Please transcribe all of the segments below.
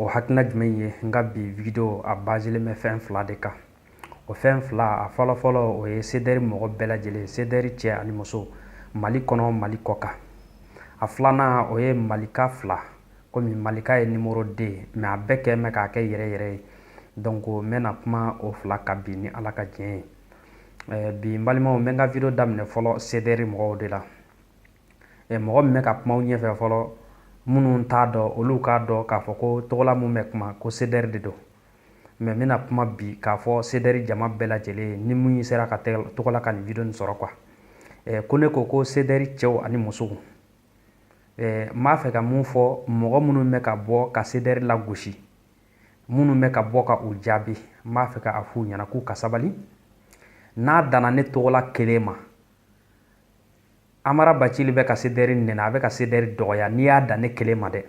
o hakilina jumɛn ye n ka bi video a bazilen bɛ fɛn fila de kan o fɛn fila a fɔlɔfɔlɔ o ye sedɛri mɔgɔ bɛɛ lajɛlen sedɛri cɛ ani muso mali kɔnɔ mali kɔkan a filanan o ye malika fila komi malika ye nimoro deux mɛ a bɛɛ kɛ mɛ k'a kɛ yɛrɛ yɛrɛ ye donc n bɛna kuma o fila kan bi ni ala ka diɲɛ ye bi n balimaw n bɛ n ka video daminɛ fɔlɔ sedɛri mɔgɔw de la ɛ mɔgɔ min bɛ ka kuma aw ɲɛfɛ fɔlɔ minnu t'a dɔn olu k'a dɔn k'a fɔ ko togola min bɛ kuma ko sedɛri de don mɛ n bɛna kuma bi k'a fɔ sedɛri jama bɛɛ lajɛlen ye ni min sera ka togola ka nin video nin sɔrɔ kuwa ɛ ko ne ko ko sedɛri cɛw ani musow ɛ n b'a fɛ ka min fɔ mɔgɔ minnu bɛ ka bɔ ka sedɛri lagosi minnu bɛ ka bɔ ka u jaabi n b'a fɛ ka a f'u ɲɛna k'u ka sabali n'a danna ne togola kelen ma amara bacili bɛ ka sedɛri nɛni a bɛ ka sedɛri dɔgɔya n'i y'a dan ne kelen ma dɛ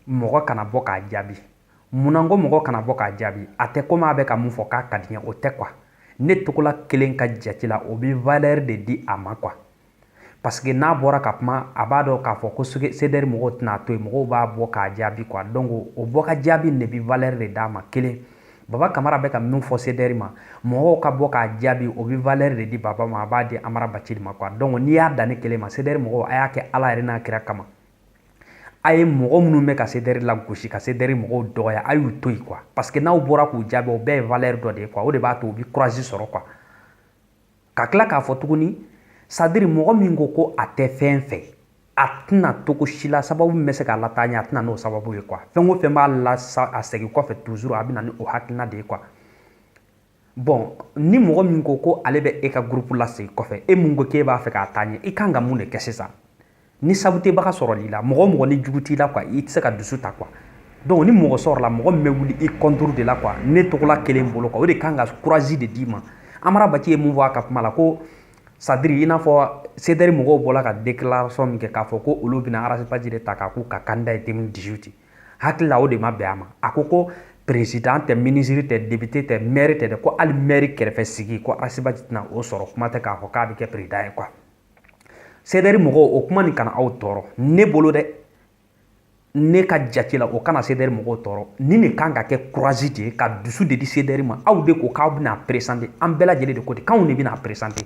mɔgɔ kana bɔ k'a jaabi munna n ko mɔgɔ kana bɔ k'a jaabi a tɛ komi a bɛ ka min fɔ k'a ka di n ye o tɛ kuwa ne togola kelen ka jate la o bɛ valɛri de di a ma kuwa paseke n'a bɔra ka kuma a b'a dɔn k'a fɔ ko sedɛri mɔgɔw tɛna a to yen mɔgɔw b'a bɔ k'a jaabi kuwa donc o bɔ ka jaabi de bɛ valɛri de d'a ma kelen Baba kamara bɛ ka min fɔ sedɛri ma mɔgɔw ka bɔ k'a jaabi o bɛ valɛri de di baba ma a b'a di amara bacili ma kuwa donc n'i y'a dan ne kelen ma sedɛri mɔgɔ a y'a kɛ ala yɛrɛ n'a kira kama a ye mɔgɔ minnu bɛ ka sedɛri lagosi ka sedɛri mɔgɔw dɔgɔya a y'u to yen kuwa paseke n'aw bɔra k'u jaabi o bɛɛ ye valɛri dɔ de ye kuwa o de b'a to u bɛ kurazi sɔrɔ kuwa ka tila k'a fɔ tuguni sadiri mɔgɔ min ko ko a tɛ fɛn fɛ a tɛna to ko si la sababu min bɛ se k'a lataa ɲɛ a tɛ na n'o sababu ye kuwa fɛn o fɛn b'a lasegin kɔfɛ tuzuru a bɛ na ni o hakilina de ye kuwa bɔn ni mɔgɔ min ko ko ale bɛ e ka gurupu lasegin kɔfɛ e min ko k'e b'a fɛ k'a taa ɲɛ i kan ka mun de kɛ sisan ni sabotebaga sɔrɔl'i la mɔgɔ o mɔgɔ ni jugu t'i la kuwa i tɛ se ka dusu ta kuwa donc ni mɔgɔ sɔrɔla mɔgɔ min bɛ wuli i kɔnturu de la kuwa ne togola kelen bolo kuwa o de kan ka kurazi de d'i ma amara bacili ye mun fɔ a ka kuma la ko sadiri i n'a fɔ sedɛri mɔgɔw bɔla ka déclaration min kɛ k'a fɔ ko olu bɛna arasibaji de ta k'a k'u ka kandida ye 2018 hakili la o de ma bɛn a ma a ko ko perezidan tɛ minisiri tɛ depite tɛ mɛri tɛ dɛ ko hali mɛri kɛrɛfɛ sigi ko arasibaji tɛna o sɔrɔ kuma tɛ k'a fɔ k'a bɛ kɛ perezidan ye kuwa Sedɛri mɔgɔw o kuma nin kana aw tɔɔrɔ ne bolo dɛ ne ka jate la o kana sedɛri mɔgɔw tɔɔrɔ nin de kan ka kɛ kurazi de ye ka dusu de di sedɛri ma aw de ko k'aw bɛna a peresante an bɛɛ lajɛlen de ko ten k'anw de bɛna a peresante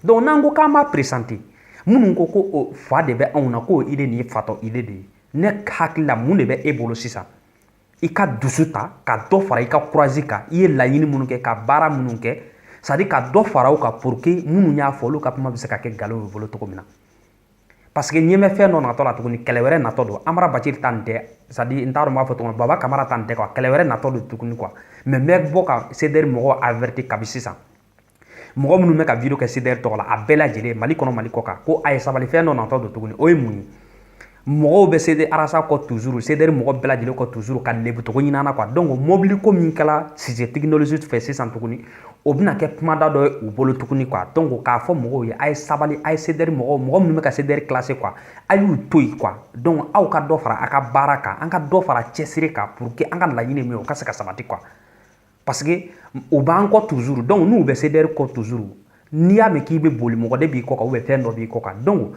donc n'an ko k'an b'a peresante minnu ko ko fa de bɛ anw na k'o yɛrɛ nin ye fatɔ yɛrɛ de ye ne hakili la mun de bɛ e bolo sisan i ka dusu ta ka dɔ fara i ka courage kan i ye laɲini minnu kɛ ka baara minnu kɛ c'est à dire ka dɔ fara o kan pour que minnu y'a fɔ olu ka kuma bɛ se ka kɛ nkalon y'u bolo cogo min na parce que n y'a mɛn fɛn dɔ natɔ la tuguni kɛlɛ wɛrɛ natɔ don amara bacili ta nin tɛ c'est à dire n t'a dɔn n b'a fɔ tuguni baba kamara ta nin tɛ quoi kɛlɛ wɛrɛ natɔ don tuguni quoi mais n bɛ bɔ ka CDR mɔgɔw averti kabi sisan mɔgɔ minnu bɛ ka video kɛ CDR tɔgɔ la a bɛɛ lajɛlen Mali kɔnɔ Mali kɔ kan ko a ye sabali fɛn dɔ natɔ don tuguni o ye mun ye mɔgɔw bɛ CD arasa kɔ toujours CDR mɔgɔ bɛɛ lajɛlen kɔ toujours ka lebu cogo ɲini an na quoi donc mobili ko min kɛla sise technologie fɛ sisan tuguni o bɛna kɛ kumada dɔ ye u bolo tuguni quoi donc k'a fɔ mɔgɔw ye a ye sabali a ye CDR mɔgɔw mɔgɔ minnu bɛ ka CDR clasher quoi a y'u to yen quoi donc aw ka dɔ fara a ka baara kan an ka dɔ fara cɛsiri kan pour que an ka laɲini min ye o ka se ka sabati quoi parce que u b'an kɔ toujours donc n'u bɛ CDR kɔ toujours n'i y'a mɛn k'i bɛ boli mɔgɔ de b'i kɔ kan ou bien fɛn dɔ b'i kɔ kan donc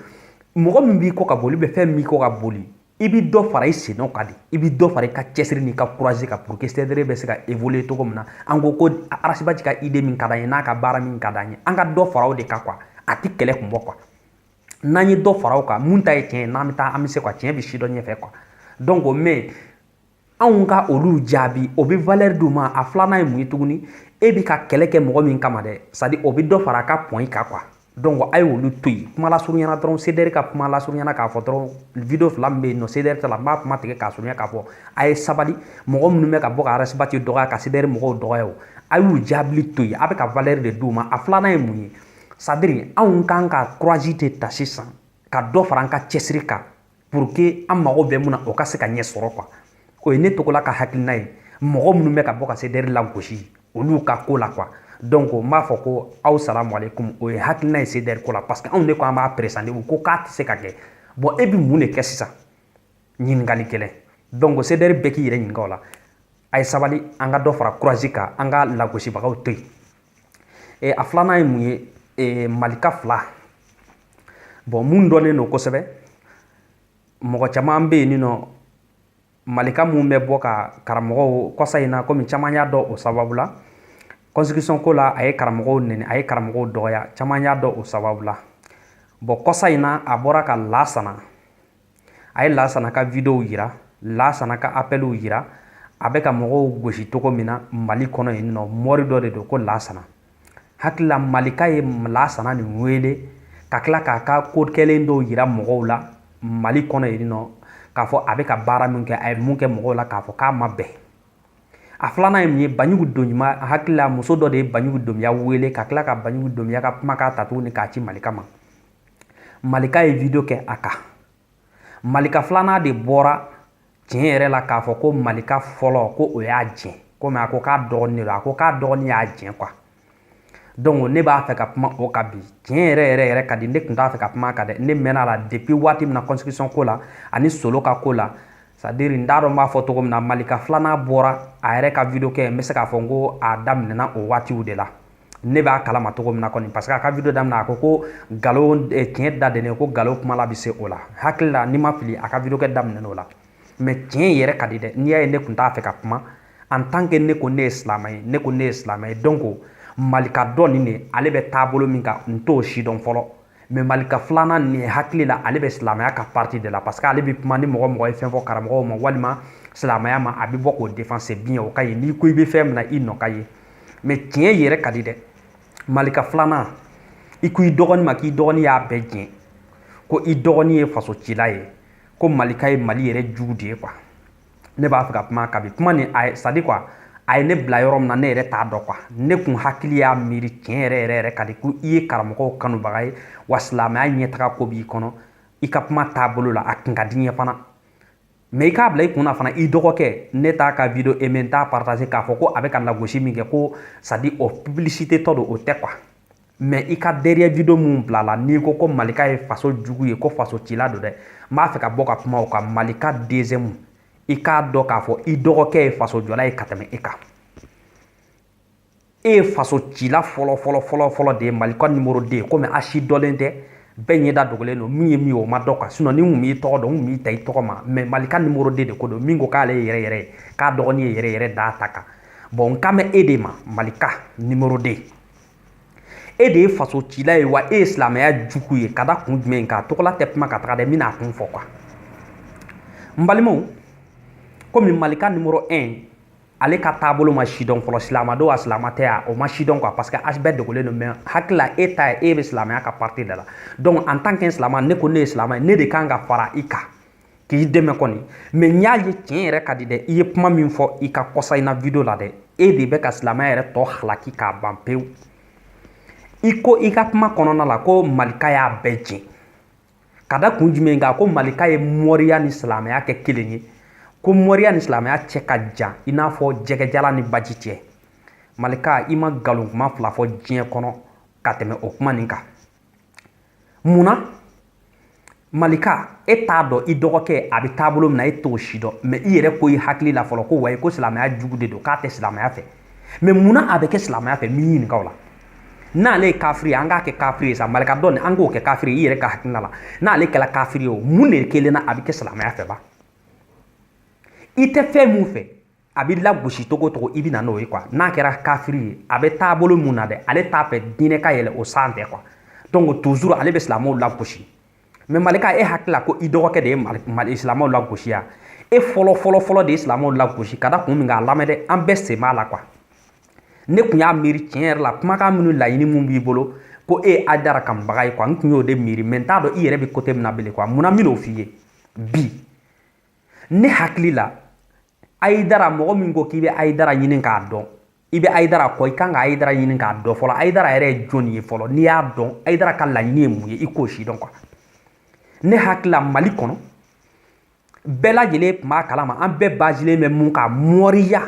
mɔgɔ min b'i kɔ ka boli ou bien fɛn min b'i kɔ ka boli i bɛ dɔ fara i sennɔ kan de i bɛ dɔ fara i ka cɛsiri n'i ka courage kan pour que CDR bɛ se ka évoluer cogo min na an kɔkɔ Arasibati ka idée min ka d'an ye n'a ka baara min ka d'an ye an ka dɔ fara o de kan quoi a tɛ kɛlɛ kun bɔ quoi n'an ye dɔ fara o kan mun ta ye tiɲɛ ye n'an bɛ taa an bɛ se quoi tiɲɛ bɛ si dɔ ɲɛfɛ quoi donc mais anw ka olu jaabi o bɛ valeur d'u ma a filanan ye mun ye tuguni e bɛ ka kɛlɛ kɛ mɔgɔ min kama dɛ c'est à dire o bɛ dɔ fara a ka point kan quoi donc a ye olu to yen kuma lasurunyana dɔrɔn CDR ka kuma lasurunyana k'a fɔ dɔrɔn video fila min bɛ yen nɔ CDR ta la n b'a kuma tigɛ k'a surunya k'a fɔ a ye sabali mɔgɔ minnu bɛ ka bɔ ka arasibati dɔgɔya ka CDR mɔgɔw dɔgɔya o a y'u jaabili to yen a bɛ ka valeur de d'u ma a filanan ye mun ye c'est à dire anw k'an ka courage de ta sisan ka dɔ fara an ka cɛsiri kan pour que an mago bɛ mun na o ka se ka ɲɛ sɔrɔ quoi o ye ne togola ka hakilina ye mɔgɔ minnu bɛ ka bɔ ka CDR lagosi olu ka ko la quoi donc n b'a fɔ ko aw salamu aleykum o ye hakilina ye CDR ko la parce que anw de ko an b'a présenter u ko k'a tɛ se ka kɛ bon e bɛ mun de kɛ sisan ɲininkali kɛlɛ donc CDR bɛɛ k'i yɛrɛ ɲininka o la a ye sabali an ka dɔ fara courage kan an ka lagosibagaw to yen e, a filanan ye mun ye e, malika fila bon mun dɔnnen don kosɛbɛ mɔgɔ caman bɛ yen nin nɔ malika mun bɛ bɔ ka karamɔgɔw kɔsa in na komi caman y'a dɔn o sababu la constitution ko la a ye karamɔgɔw nɛni a ye karamɔgɔw dɔgɔya caman y'a dɔn o sababu la bon kɔsa in na a bɔra ka lasana a ye lasana ka videow yira lasana ka appelw yira a bɛ ka mɔgɔw gosi cogo min na mali kɔnɔ yen nɔ mori dɔ de don ko lasana hakili la malika ye lasana nin wele ka tila k'a ka ko kɛlen dɔw yira mɔgɔw la mali kɔnɔ yen nɔ k'a fɔ a bɛ ka baara min kɛ a ye mun kɛ mɔgɔw la k'a fɔ k'a ma bɛn a filanan ye mun ye banjugu donbiya hakili la muso dɔ de ye banjugu donbiya wele ka tila ka banjugu donbiya ka kumakan ta tuguni k'a ci malika ma malika ye video kɛ a kan malika filanan de bɔra tiɲɛ yɛrɛ la k'a fɔ ko malika fɔlɔ ko o y'a jɛn komi a ko k'a dɔgɔnin de don a ko k'a dɔgɔnin y'a jɛn quoi donc ne b'a fɛ ka kuma o kan bi tiɲɛ yɛrɛ yɛrɛ yɛrɛ ka di ne tun t'a fɛ ka kuma kan dɛ ne mɛn'a la depuis waati min na constitution ko la ani solo ka ko la c'est-à-dire n t'a dɔn n b'a fɔ cogo min na malika filanan bɔra a yɛrɛ ka video kɛ n bɛ se k'a fɔ n ko a daminɛna o waatiw de la ne b'a kalama cogo min na kɔni parce que a ka video daminɛ a ko ko nkalon eh, tiɲɛ da dennen ko nkalon kuma la bɛ se o la hakili la ni n ma fili a ka video kɛ daminɛna o la mais tiɲɛ yɛrɛ ka di dɛ n'i y'a ye ne tun t'a fɛ ka kuma en tant que ne ko ne ye silamɛ ye ne ko ne ye silamɛ ye donc malika dɔ nin de ale bɛ taabolo min kan n t'o sidɔn fɔlɔ mais malika filanan nin hakili la ale bɛ silamɛya ka parti de la parce que ale bɛ kuma ni mɔgɔ mɔgɔ ye fɛn fɔ karamɔgɔw ma walima silamɛya ma a bɛ bɔ k'o défend c'est bien o ka ɲi n'i ko i bɛ fɛn min na i nɔ ka ye mais tiɲɛ yɛrɛ ka di dɛ malika filanan i ko i dɔgɔnin ma k'i dɔgɔnin y'a bɛɛ jɛ ko i dɔgɔnin ye faso cila ye ko malika ye mali yɛrɛ jugu de ye quoi ne b'a fɛ ka kuma kan bi kuma nin a c'est-à-dire quoi a ye ne bila yɔrɔ min na ne yɛrɛ t'a dɔn quoi ne kun hakili y'a miiri tiɲɛ yɛrɛ yɛrɛ yɛrɛ ka di ko i ye karamɔgɔw kanubaga ye wa silamɛya ɲɛtaga ko b'i kɔnɔ i ka kuma taabolo la a kun ka di n ye fana mais i k'a bila i kun na fana i dɔgɔkɛ ne t'a ka video aimé n t'a partager k'a fɔ ko a bɛ ka lagosi min kɛ ko c'est-à-dire o publicité tɔ don o tɛ quoi mais i ka dernier video min bilala n'i ko ko malika ye faso jugu ye ko faso cila don dɛ n b'a fɛ ka bɔ ka kuma o kan malika deuxième i k'a dɔn k'a fɔ i dɔgɔkɛ ye faso jɔla ye ka tɛmɛ e kan e ye faso cila fɔlɔ fɔlɔ fɔlɔ fɔlɔ de ye malika nimoro 2 komi a sidɔnnen tɛ bɛɛ ɲɛda dogolen don min ye min ye o ma dɔn quoi sinon ni n kun b'i tɔgɔ dɔn n kun b'i ta i tɔgɔ ma mais malika nimoro 2 de ko don min ko k'ale ye yɛrɛ yɛrɛ ye k'a dɔgɔnin ye yɛrɛ yɛrɛ d'a ta kan bon n kan bɛ e de ma malika nimoro 2 e de ye faso cila ye wa e ye silamɛya jugu ye ka da kun jumɛn kan tɔgɔla tɛ kuma ka taga dɛ n bɛna a kun fɔ quoi n balimaw komi malika nimoro 1 ale ka taabolo ma sidɔn fɔlɔ silama don a silama tɛ a o ma sidɔn quoi parce que a bɛɛ dogolen don mais hakili la e ta ye e bɛ silamɛya ka parti de la donc en tant que silama ne ko ne ye silama ye ne de kan ka fara i kan k'i dɛmɛ kɔni mais n y'a ye tiɲɛ yɛrɛ ka di dɛ i ye kuma min fɔ i ka kɔsa in na video la dɛ e de bɛ ka silamɛya yɛrɛ tɔ halaki k'a ban pewu i ko i ka kuma kɔnɔna la ko malika y'a bɛɛ jɛ ka da kun jumɛn kan ko malika ye mɔriya ni silamɛya kɛ kelen ye ko mɔriya ni silamɛya cɛ ka jan i n'a fɔ jɛgɛjalan ni baji cɛ malika i ma nkalon kuma fila fɔ diɲɛ kɔnɔ ka tɛmɛ o kuma nin kan mun na malika e t'a dɔn i dɔgɔkɛ a bɛ taabolo min na e t'o si dɔn mais i yɛrɛ ko i hakili la fɔlɔ ko wayi ko silamɛya jugu de don k'a tɛ silamɛya fɛ mais mun na a bɛ kɛ silamɛya fɛ n b'i ɲininka o la n'ale ye kafiri ye an k'a kɛ kafiri ye sa malika donc ni an k'o kɛ kafiri ye i yɛrɛ ka hakilina la n'ale kɛra kafiri ye o mun de kelen na a bɛ kɛ silamɛya fɛ ba i tɛ fɛn min fɛ a bɛ lagosi togo togo i bɛ na n'o ye quoi n'a kɛra kafiri ye a bɛ taabolo mun na dɛ ale t'a fɛ diinɛ ka yɛlɛ o sanfɛ quoi donc toujours ale bɛ silamɛw lagosi mais malika e hakili la ko i dɔgɔkɛ de ye mali silamɛw lagosi yan e fɔlɔ fɔlɔ fɔlɔ de ye silamɛw lagosi ka da kun min kan a lamɛn dɛ an bɛɛ sen b'a la quoi ne tun y'a miiri tiɲɛ yɛrɛ la kumakan minnu laɲini mun b'i bolo ko e ye ayidara kanubaga ye quoi n tun y'o de miiri mais n t'a dɔn i yɛrɛ bɛ côté min na bilen quoi mun na n bɛn'o f'i ye bi ne hakili la ayidara mɔgɔ min ko k'i bɛ ayidara ɲini k'a dɔn i bɛ ayidara kɔ i kan ka ayidara ɲini k'a dɔn fɔlɔ ayidara yɛrɛ ye jɔn ye fɔlɔ n'i y'a dɔn ayidara ka laɲini ye mun ye i k'o si dɔn quoi ne hakili la mali kɔnɔ bɛɛ lajɛlen tun b'a kalama an bɛɛ bazilen bɛ mun kan mɔriya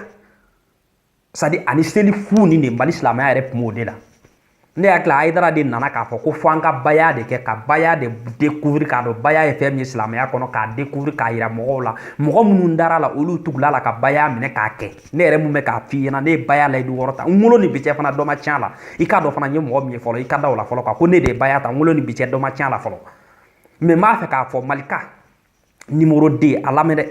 c'est-à-dire ani seli fu nin de mali silamɛya yɛrɛ tun b'o de la ne hakili la ayidara de nana k'a fɔ ko fo an ka baya de kɛ ka baya de découvrir k'a dɔn baya ye fɛn min ye silamɛya kɔnɔ k'a découvrir k'a yira mɔgɔw la mɔgɔ minnu dara a la olu tugula a la ka baya minɛ k'a kɛ ne yɛrɛ mun bɛ k'a f'i ɲɛna ne ye baya layidu wɔɔrɔ ta n wolo ni bi cɛ fana dɔ ma tiɲɛ a la i k'a dɔn fana n ye mɔgɔ min ye fɔlɔ i ka da o la fɔlɔ quoi ko ne de ye baya ta n wolo ni bi cɛ dɔ ma tiɲɛ a la fɔlɔ mais n b'a fɛ k'a fɔ malika numéro deux a lamɛn dɛ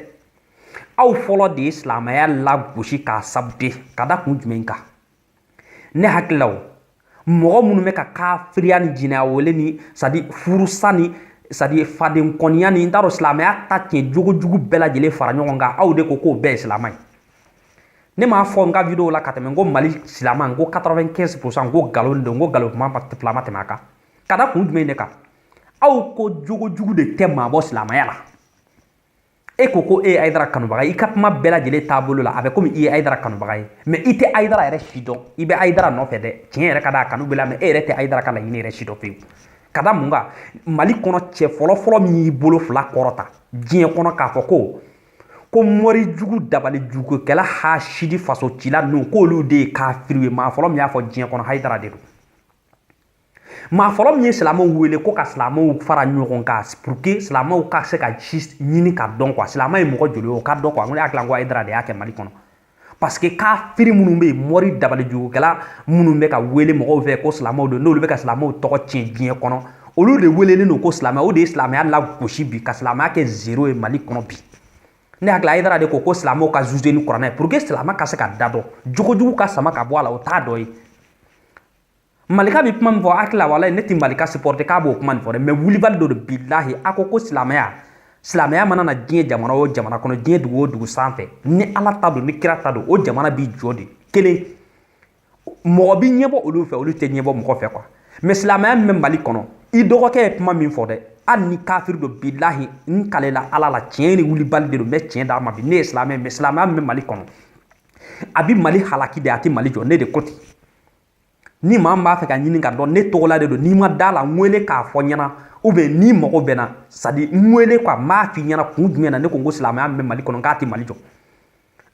aw fɔlɔ de ye silamɛya lagosi k'a saboter ka da kun jumɛn kan ne hakili la o mɔgɔ minnu bɛ ka kafiriya ni jinɛya wele ni c'est-à-dire furusa ni c'est-à-dire fadenkɔniya ni n t'a dɔn silamɛya ta tiɲɛ jogojugu bɛɛ lajɛlen fara ɲɔgɔn kan aw de ko k'o bɛɛ ye silama ye ne m'a fɔ n ka video la ka tɛmɛ n ko mali silama n ko 95 pourcent n ko nkalon don n ko nkalon kuma fila ma tɛmɛ a kan ka da kun jumɛn de kan aw ko jogojugu de tɛ maa bɔ silamaya la e ko ko e ye ayidara kanubaga ye i ka kuma bɛɛ lajɛlen taabolo la a bɛ komi i ye ayidara kanubaga ye mais i tɛ ayidara yɛrɛ si dɔn i bɛ ayidara nɔfɛ dɛ tiɲɛ yɛrɛ ka da a kanu b'e la mais e yɛrɛ tɛ ayidara ka laɲini yɛrɛ si dɔn pewu ka da mun kan mali kɔnɔ cɛ fɔlɔ fɔlɔ min y'i bolo fila kɔrɔta diɲɛ kɔnɔ k'a fɔ ko ko mɔrijugu dabalijugukɛla hasidi faso cila ninnu k'olu de ye kafiriw ye maa fɔlɔ min y'a fɔ diɲɛ kɔnɔ hayidara de don maa fɔlɔ min ye silamɛw wele ko ka silamɛw fara ɲɔgɔn kan pour que silamɛw ka se ka ci ɲini k'a dɔn quoi silamɛ ye mɔgɔ joli ye o k'a dɔn quoi n ko ne hakili la ko Hayidara de y'a kɛ Mali kɔnɔ parce que kafiri minnu bɛ yen mɔri dabalijugukɛla minnu bɛ ka wele mɔgɔw fɛ ko silamɛw don n'olu bɛ ka silamɛw tɔgɔ tiɲɛ diɲɛ kɔnɔ olu de welelen don ko silamɛ o de ye silamɛya lagosi bi ka silamɛya kɛ zero ye Mali kɔnɔ bi ne hakili la Hayidara de ko ko silamɛw ka juger ni kuranɛ pour que silamɛ ka se ka da dɔn jogojugu ka sama ka bɔ a la o t'a dɔ ye malika bɛ kuma min fɔ hakili la walayi ne tɛ malika supporter k'a b'o kuma nin fɔ dɛ mais wulibali don dɛ bilahi a ko ko silamɛya silamɛya mana na diɲɛ jamana o jamana kɔnɔ diɲɛ dugu o dugu sanfɛ ni ala ta don ni kira ta don o jamana b'i jɔ de kelen mɔgɔ bi ɲɛbɔ olu fɛ olu tɛ ɲɛbɔ mɔgɔ fɛ quoi mais silamɛya min bɛ mali kɔnɔ i dɔgɔkɛ ye kuma min fɔ dɛ hali ni kafiri don bilahi n kalela ala la tiɲɛ ni wulibali de don n bɛ tiɲɛ d'a ma bi ne ye silamɛ mais silamɛya min bɛ mali kɔnɔ a bi mali halaki de a tɛ mali jɔ ne de ko ten ni maa min b'a fɛ k'a ɲini k'a dɔn ne tɔgɔla de don n'i ma da la n wele k'a fɔ n ɲɛna ou bien n'i mago bɛ n na c'est-à-dire n wele quoi n b'a f'i ɲɛna kun jumɛn na ne ko n ko silamɛya min bɛ mali kɔnɔ k'a tɛ mali jɔ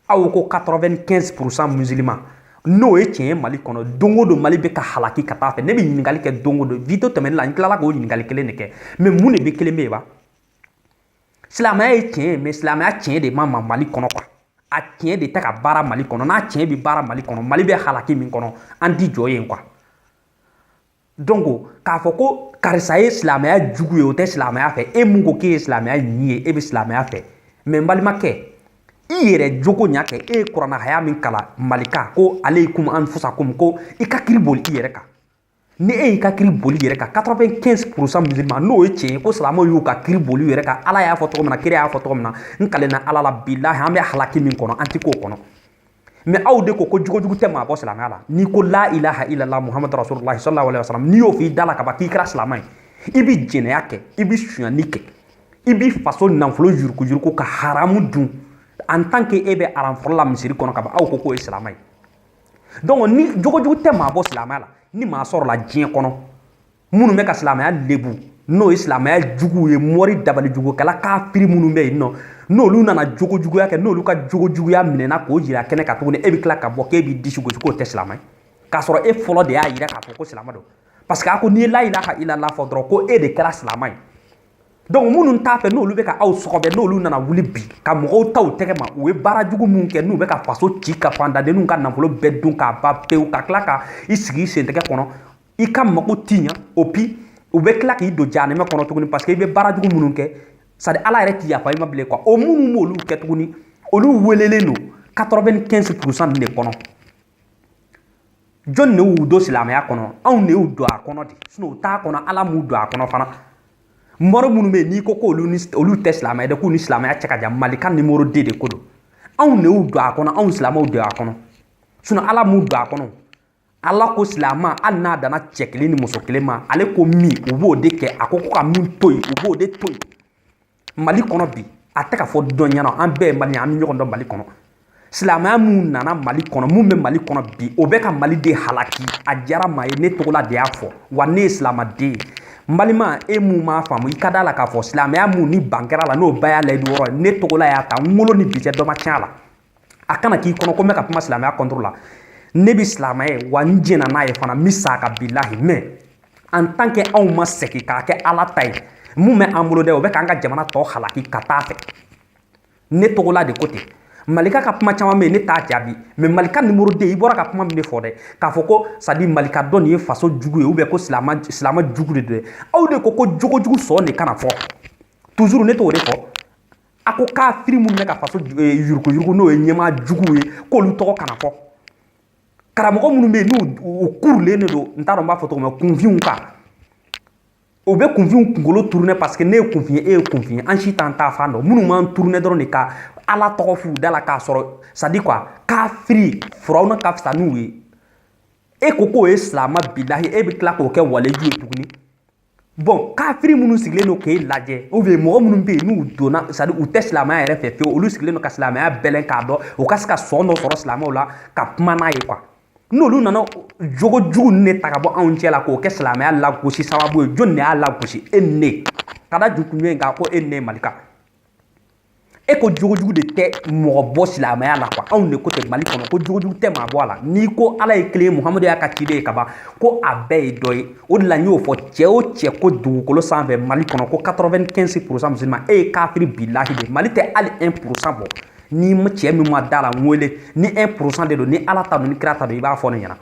aw ko 95 pourcent musulman n'o ye tiɲɛ ye mali kɔnɔ don o don mali bɛ ka halaki ka t'a fɛ ne bɛ ɲininkali kɛ don o don video tɛmɛni la n tilala k'o ɲininkali kelen de kɛ mais mun de bɛ kelen bɛ yen ba silamɛya ye tiɲɛ ye mais silamɛya tiɲɛ de ma na mali kɔnɔ quoi a tiɲɛ de tɛ ka baara mali kɔnɔ n'a tiɲɛ bɛ baara mali kɔnɔ mali bɛ halaki min kɔnɔ an ti jɔ yen quoi donc k'a fɔ ko karisa ye silamɛya jugu ye o tɛ silamɛya fɛ e min ko k'e ye silamɛya ɲi ye e bɛ silamɛya fɛ mais n balimakɛ i yɛrɛ jogo ɲa kɛ e ye kurana haya min kalan malika ko aleikum anfusakum ko i ka kiri boli i yɛrɛ kan ni e y'i ka kiri boli i yɛrɛ kan 95 pourcent musulman n'o ye tiɲɛ ye ko silamɛw y'u ka kiri boli u yɛrɛ kan ala y'a fɔ cogo min na kira y'a fɔ cogo min na n kalenna ala la bilahi an bɛ halaki min kɔnɔ an ti k'o kɔnɔ mais aw de ko ko jogojugu tɛ maa bɔ silamɛya la n'i ko la ilaha illallah muhamadu rasululahi sallallahu alaihi wasallam n'i y'o f'i da la ka ban k'i kɛra silamɛ ye i bi jɛnɛya kɛ i bi sonyani kɛ i bi faso nafolo yurukuyuruku ka haramu dun en tant que e bɛ aran fɔlɔ la misiri kɔnɔ ka ban aw ko k'o ye silamɛ ye donc ni jogojugu tɛ maa bɔ silamɛya la ni maa sɔrɔla diɲɛ kɔnɔ minnu bɛ ka silamɛya lebu n'o ye silamɛya juguw ye mɔri dabalijugukɛla kafiri minnu bɛ yen nɔ n'olu nana jogojuguya kɛ n'olu ka jogojuguya minɛna k'o jira kɛnɛ kan tuguni e bɛ tila ka bɔ k'e b'i disi gosi k'o tɛ silamɛ ye k'a sɔrɔ e fɔlɔ de y'a yira k'a fɔ ko silamɛ don parce que a ko n'i ye la ilaha illallah fɔ dɔrɔn ko e de kɛra silamɛ ye donc minnu t'a fɛ n'olu bɛ ka aw sɔgɔbɛ n'olu nana wuli bi ka mɔgɔw ta u tɛgɛ ma u ye baara jugu minnu kɛ n'u bɛ ka faso ci ka fandadenninw ka nafolo bɛɛ dun k'a ban pewu ka tila ka i sigi i sentɛgɛ kɔnɔ i ka mago ti ɲa et puis u bɛ tila k'i don jahanɛmɛ kɔnɔ tuguni parce que i bɛ baara jugu minnu kɛ c'est-à-dire ala yɛrɛ ti yafa i ma bilen quoi o minnu b'olu kɛ tuguni olu welelen don 95 pourcent de kɔnɔ jɔni de y'u don silamɛya kɔnɔ anw de y'u don a kɔnɔ de sinon u t'a kɔnɔ ala m'u don a kɔnɔ fana mɔgɔ minnu bɛ yen n'i ko k'olu tɛ silamɛ ye dɛ k'u ni silamɛya cɛ ka jan malika numéro 2 de ko don anw de y'u don a kɔnɔ anw silamɛw don a kɔnɔ sinon ala m'u don a kɔnɔ ala ko silamɛ hali n'a danna cɛ kelen ni muso kelen ma ale ko min u b'o de kɛ a ko ko ka min to yen u b'o de to yen mali kɔnɔ bi a tɛ k'a fɔ dɔ ɲɛna an bɛɛ ye maliyɛn an bɛ ɲɔgɔn dɔn mali kɔnɔ silamɛya mun nana mali kɔnɔ mun bɛ mali kɔnɔ bi o bɛ ka mali de halaki a diyara maa ye ne tɔgɔla de y'a fɔ wa ne ye silamaden ye n balima e mun m'a faamu i ka d'a la k'a fɔ silamɛya mun ni ban kɛra la n'o ba y'a layidu wɔɔrɔ ye ne tɔgɔla y'a ta n wolo ni bi cɛ dɔ ma tiɲɛ a la a kana k'i kɔnɔ ko n bɛ ka kuma silamɛya contre la ne bɛ silamɛya wa n jɛna n'a ye fana n bɛ s'a kan bilahi mais en tant que anw ma segin k'a kɛ ala ta ye mun bɛ an bolo dɛ o bɛ k'an ka jamana tɔ halaki ka taa fɛ ne tɔgɔla de ko ten malika ka kuma caman bɛ yen ne t'a jaabi mais malika numéro 2 i bɔra ka kuma min de fɔ dɛ k'a fɔ ko c'est-à-dire malika dɔ nin ye faso jugu ye ou bien ko silama silama jugu de don dɛ aw de ko ko jogo jugu sɔn de kana fɔ toujours ne t'o de fɔ a ko kafiri minnu bɛ ka faso eh, yuruguyurugu n'o ye ɲɛmaa juguw ye k'olu tɔgɔ kana fɔ karamɔgɔ minnu bɛ yen n'u u kurulen de don n t'a dɔn n b'a fɔ cogo min kunfinw kan u bɛ kunfinw kunkolo tourner parce que ne ye kunfin ye e ye kunfin ye an si t'an ta fan dɔn minnu b'an tourner dɔrɔn de ka ala tɔgɔ f'u da la k'a sɔrɔ c'est-à-dire quoi kafiri firawuna ka fisa n'u ye e ko k'o ye silama bilahi e bɛ tila k'o kɛ waleju ye tuguni bon kafiri minnu sigilen don k'e lajɛ ou bien mɔgɔ minnu bɛ yen n'u dɔnna c'est-à-dire u tɛ silamaya yɛrɛ fɛ fewu olu sigilen don ka silamaya bɛlɛn k'a dɔn u ka se ka sɔn dɔ sɔrɔ silamaw la ka kuma n'a ye quoi n'olu nana jogo jugu ninnu de ta ka bɔ anw cɛ la k'o kɛ silamɛya lagosi sababu ye jɔni de y'a lagosi e ni ne ka da jukunjɔ in kan ko e ni ne malika e ko jogojugu de tɛ mɔgɔ bɔ silamɛya la quoi anw de ko ten mali kɔnɔ ko jogojugu tɛ maa bɔ a la n'i ko ala ye kelen ye muhamadu y'a ka ciden ye ka ban ko a bɛɛ ye dɔ ye o de la n y'o fɔ cɛ o cɛ ko dugukolo sanfɛ mali kɔnɔ ko 95 pourcent musulman e ye kafiri bilahi de mali tɛ hali 1 pourcent bɔ ni cɛ min ma da la n wele ni 1 pourcent de don ni ala ta don ni kira ta don i b'a fɔ ne ɲɛna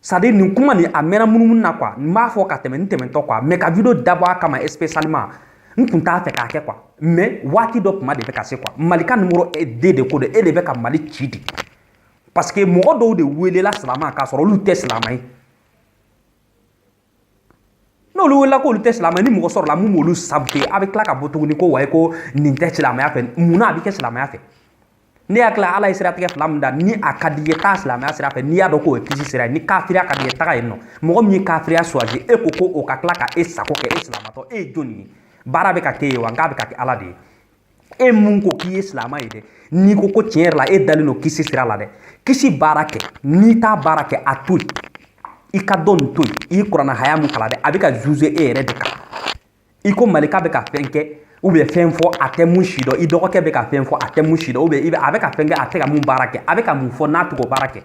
c'est-à-dire nin kuma nin a mɛnna munumunu na quoi n b'a fɔ ka tɛmɛ n tɛmɛntɔ quoi mais ka video dabɔ a kama spécialement n tun t'a fɛ k'a kɛ quoi mais waati dɔ kuma de bɛ ka se quoi malika numéro 2 de ko don e de bɛ ka mali ci dɛ parce que mɔgɔ dɔw de welela silama k'a sɔrɔ olu tɛ silama ye n'olu welela k'olu tɛ silama ni mɔgɔ sɔrɔla mun b'olu saboter a bɛ tila ka bɔ tuguni ko wayi ko nin tɛ silamɛya fɛ mun na a bɛ kɛ silamɛya fɛ ne y'a tila ala ye siratigɛ fila min da ni a ka d'i ye taa silamɛya sira fɛ n'i y'a dɔn k'o ye kisi sira ye ni kafiriya ka d'i ye taga yen nɔ mɔgɔ min ye kafiriya choisi e ko ko o ka tila ka e sago kɛ e silamatɔ e ye jɔni ye baara bɛ ka k'e ye wa nk'a bɛ ka kɛ ala de ye e mun ko k'i ye silama ye dɛ n'i ko ko tiɲɛ yɛrɛ la e dalen don kisi sira la dɛ kisi baara kɛ n'i t'a baara kɛ a to yen i ka dɔ nin to yen i ye kurana haya mun kalan dɛ a bɛ ka juger e yɛrɛ de kan i ko malika bɛ ka fɛn kɛ ou bien fɛn fɔ a tɛ mun si dɔn i dɔgɔkɛ bɛ ka fɛn fɔ a tɛ mun si dɔn ou bien i bɛ a bɛ ka fɛn kɛ a tɛ ka mun baara kɛ a bɛ ka mun fɔ n'a tɛ k'o baara kɛ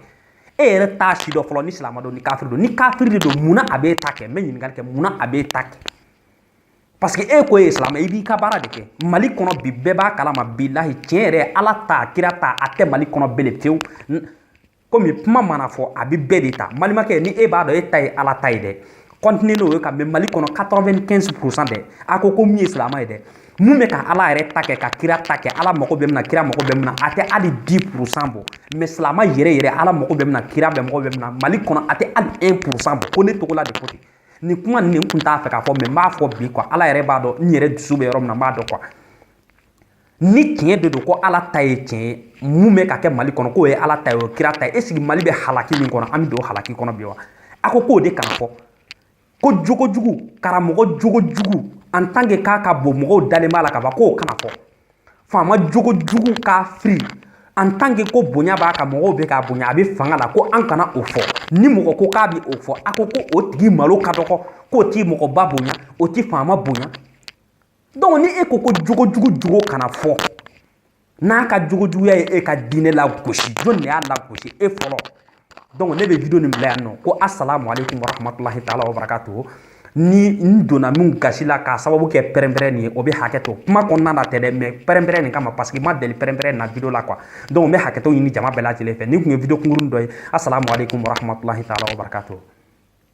e yɛrɛ t'a si dɔn fɔlɔ ni silama don ni kafiri don ni kafiri de don munna a b'e ta kɛ n bɛ ɲininkali kɛ munna a b'e ta kɛ parce que e ko e ye silamɛ i b'i ka baara de kɛ mali kɔnɔ bi bɛɛ b'a kalama bilahi tiɲɛ yɛrɛ ala ta kira ta a tɛ mali kɔnɔ bele fewu komi kuma mana fɔ a bɛ bɛɛ de ta balimakɛ ni e b'a dɔn e ta ye ala ta ye dɛ continue n'o ye ka mɛ mali kɔnɔ 95 pourcent dɛ a ko ko min ye silamɛ ye dɛ mun bɛ ka ala yɛrɛ ta kɛ ka kira ta kɛ ala mago bɛ min na kira mago bɛ min na a tɛ hali 10 pourcent bɔ mais silamɛ yɛrɛ yɛrɛ ala mago bɛ min na kira bɛ mago bɛ min na mali kɔnɔ a tɛ hali 1 pourcent bɔ ko ne togola de ko ten nin kuma nin n kun t'a fɛ k'a fɔ mais n b'a fɔ bi quoi ala yɛrɛ b'a dɔn n yɛrɛ dusu bɛ yɔrɔ min na n b'a dɔn quoi ni tiɲɛ de don ko ala ta ye tiɲɛ ye mun bɛ ka kɛ mali kɔnɔ k'o ye ala ta ye o kira ta ye est-ce que mali bɛ halaki min kɔnɔ an bɛ don halaki kɔnɔ bi wa a ko k'o de kana fɔ ko jogo jugu karamɔgɔ jogo jugu en tant que k'a ka bon mɔgɔw dalen b'a la ka ban k'o kana fɔ faama jogo jugu kafiri en tant que ko bonya b'a kan mɔgɔw bɛ k'a bonya a bɛ fanga la ko an kana o fɔ ni mɔgɔ ko k'a bɛ o fɔ a ko ko o tigi malo ka dɔgɔ k'o tɛ mɔgɔba bonya o tɛ faama bonya donc ni e ko ko jogo jugu jogo kana fɔ n'a ka jogo juguya ye e ka diinɛ lagosi jɔni de y'a lagosi e fɔlɔ donc ne bɛ video nin bila yan nɔ ko asalamu aleykum warahmatulahi taala wabarakatuhu ni n donna min gasi la k'a sababu kɛ pɛrɛnpɛrɛn nin ye o bɛ hakɛ to kuma kɔnɔna na tɛ dɛ mais pɛrɛnpɛrɛn nin kama parce que n ma deli pɛrɛnpɛrɛn na video la quoi donc n bɛ hakɛto ɲini jama bɛɛ lajɛlen fɛ nin tun ye video kunkurunin dɔ ye asalamu aleykum warahmatulahi taala wabarakatuhu